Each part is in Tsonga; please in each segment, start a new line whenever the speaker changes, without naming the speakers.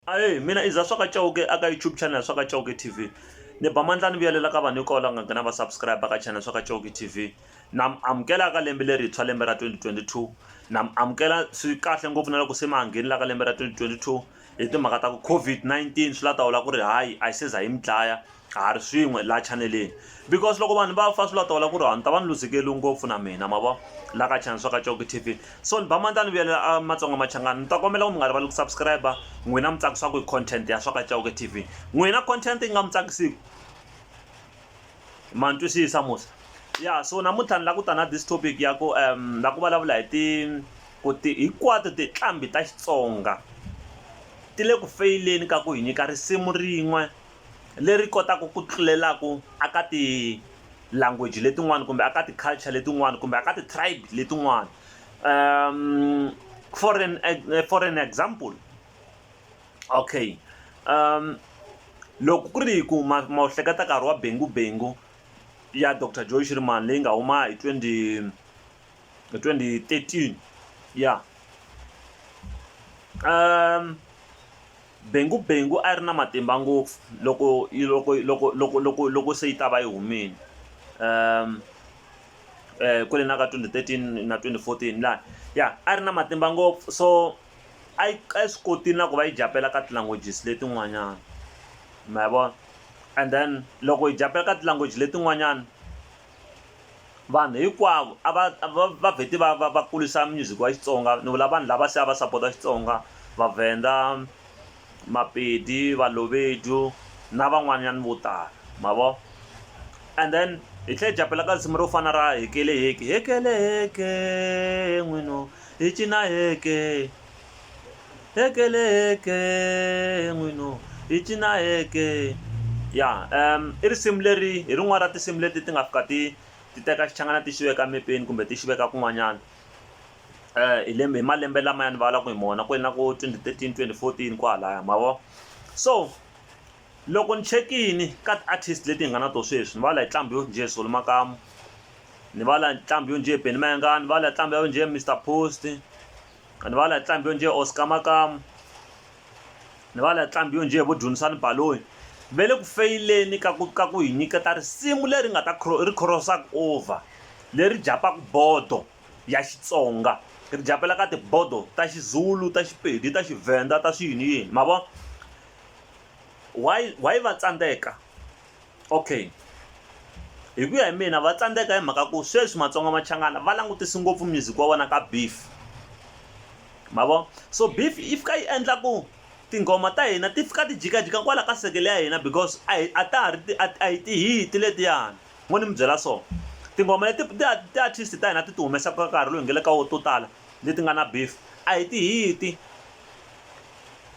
Ahee mina i za swa ka Chauke a ka YouTube channel ya swa ka Chauke T_V ni ba mandla ni vuyelela ka vanhu hinkwavo lava nga gina va subscribe ka channel swa ka Chauke T_V na mi amukela ka lembe lerintshwa lembe ra twenty twenty two na mi amukela swi kahle ngopfu na loko se ma ha nghenela ka lembe ra twenty twenty two hi timhaka ta ku COVID-19 swi la ta vula ku ri hayi a yi se za yi mi dlaya a ha ri swin'we laha chaneleni because loko vanhu va fa swi la tola ku ri ni ta va ni luzekeriwe ngopfu na mina ma vo la ka channel swa ka Coke T_V so ni ba ma ta ni vuyelela a Matsonga Machangani ni ta kombela ku mi nga rivali ku subscribe n'wina mi tsakisiwaku hi content ya swa ka Coke T_V n'wina content yi nga mi tsakisiku ma ni twisisa musa ya so namuntlha ni la ku ta na this topic ya ku um la ku vulavula hi ti ku ti hinkwato tinqambi ta Xitsonga ti le ku feyileni ka ku hi nyika risimu rin'we leri kotaku ku tlulelaku a ka ti language letin'wani kumbe a ka ti culture letin'wani kumbe a ka ti tribe letin'wani um for an for an example okay um loko ku ri ku ma ma wu hleketa nkarhi wa Bengu Bengu ya Doctor Joy Shirimani leyi nga huma hi twenty hi twenty thirteen ya um. Bengu Bengu a yi ri na matimba ngopfu loko yi loko loko loko loko loko se yi ta va yi humile kwale na ka twenty thirteen na twenty fourteen lani ya a yi ri na matimba ngopfu so a yi a yi swi kotile na ku va yi japela ka ti-languages letin'wanyana ma yi vona and then loko yi japela ka ti-language letin'wanyana vanhu hinkwavo a va va va vheti va va va kurisa music wa Xitsonga ni vula vanhu lava se a va sapota Xitsonga Vavhenda, Mapedi, Balobedu na van'wanyana vo tala ma vo and then hi tlhe hi caphela ka risimu ro fana ra hekele heki hekele heke n'wina hi cina heke. ekele eke n'winu hi cina eke ya i risimu leri hi rin'wana ra tinsimu leti ti nga fika ti ti teka xichangana ti xi veka mepeni kumbe ti xi veka kun'wanyana hi lembe hi malembe lama ya ni vulavulaka hi mona ku na ku twenty thirteen twenty fourteen kwalaya ma vo so loko ni chekini ka ti-artist leti hi nga na to sweswi ni va la hi nqambi yo njhe Zulu makamu ni va la nqambi yo njhe Benny Mayengani va la nqambi yo njhe Mister Post. ni va la nqambi yo njhe Oscar Makamu ni va la nqambi yo njhe vo Dumisani Baloyi ve le ku feyileni ka ku ka ku hi nyiketa risimu leri nga ta ri cross-aka over leri japaka bodo ya Xitsonga ri japela ka tibodo ta Xizulu ta Xipedi ta Xivhenda ta swiyini yini ma vo why why va tsandzeka Okay. Hi ku ya hi mina va tsandzeka hi mhaka ku sweswi Matsonga Machangana va langutisi ngopfu music wa vona ka beef. Ma vo? So beef yi fika yi endla ku tinghoma ta hina ti fika ti jikajika kwala ka sekele ya hina because a hi a ta ha ri a hi ti-hit letiyani. Ngo ni mi byela so. Tinghoma leti ti-artist ta hina ti ti humesaka nkarhi lowu hi nga le ka wona to tala, leti nga na beef a hi tihiti,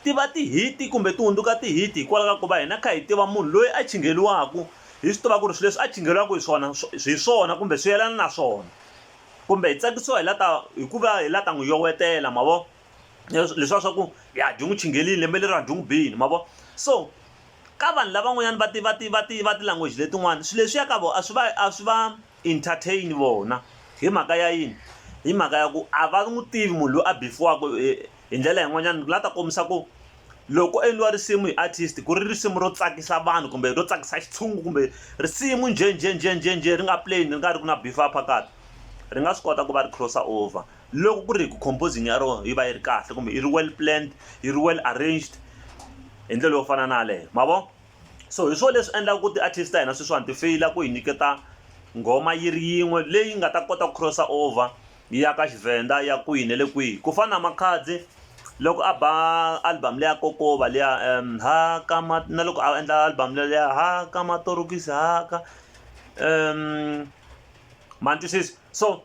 ti va tihiti kumbe ti hundzuka tihiti hikwalaho ka ku va hina kha hi tiva munhu loyi a chingheriwaka hi swi tiva ku ri swilo leswi a chingheriwaka hi swona hi swona kumbe swi yelana na swona kumbe hi tsakisiwa hi la ta hi ku va hi la ta n'wi yowetela ma vo leswiya swa ku ya dyi n'wi chinghelile lembe leri a dyi n'wi bile ma vo so ka vanhu lavan'wanyani va ti va ti va ti va ti-language letin'wani swilo leswiya ka vona a swi va a swi va. entertain vona. Hi mhaka ya yini? Hi mhaka ya ku a va n'wi tivi munhu loyi a bifiwaka hi ndlela yin'wanyana la ta kombisa ku loko ko endliwa risimu hi artist ku ri risimu ro tsakisa vanhu kumbe ro tsakisa xitshungu kumbe risimu njhe njhe njhe njhe njhe ri nga plain ri nga ri ki na beef phakathi ri nga swi kota ku va ri cross over loko ku ri hi ku composing ya rona yi va yi ri kahle kumbe i ri well planned yi ri well arranged hi ndlela yo fana na yaleyo ma vo. so hi swona leswi endlaka ku ti-artist ta hina sweswiwani ti feyila ku hi nyiketa nghoma yi ri yin'we leyi nga ta kota ku cross over yi ya ka xivenda ya kwihi ne le kwihi ku fana na makhadzi loko a ba album leya kokova liya um ha ka ma na loko a endla album leya ha ka matorokisi ha ka um ma ni twisisa so.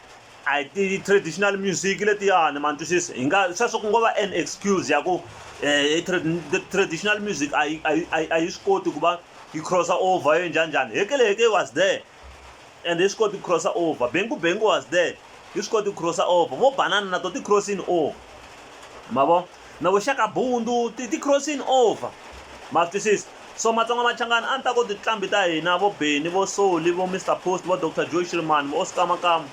a hi ti-traditional music letiyani ma ni twisisa hi nga sweswo ku ngo va an excuse ya ku um traditional music a yi a yi a yi swi koti ku va yi crossa over yo njhanjhani hekeleheke was there and yi swi koti ku crossa over bengu bengu was there yi swi koti ku crossa over vo banana na to ti-crossini over ma vo na vuxaka bundu ti ti crossing over ma swi twisisa so matsonga machangani a ni ta ku tinqambi ta hina vo Benny vo Soli vo Mr Post vo Dr Joe Shirimani vo Oscar Makamu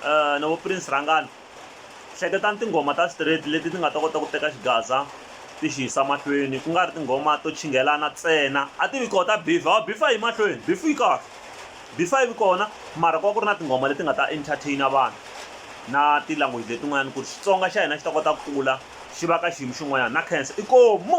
uh, na vo Prince Rhangani hleketani tinghoma ta straight leti ti nga ta kota ku teka xigaza ti xi yisa mahlweni ku nga ri tinghoma to chinghelana tsena a ti vi koho ta bifa wa bifa yi mahlweni bifu yi kahle Before yi vi kona mara ku va ku ri na tinghoma leti nga ta entertain vanhu na ti language letin'wanyana ku ri Xitsonga xa hina xi ta kota ku kula xi va ka xiyimo xin'wanyana na khensa inkomu.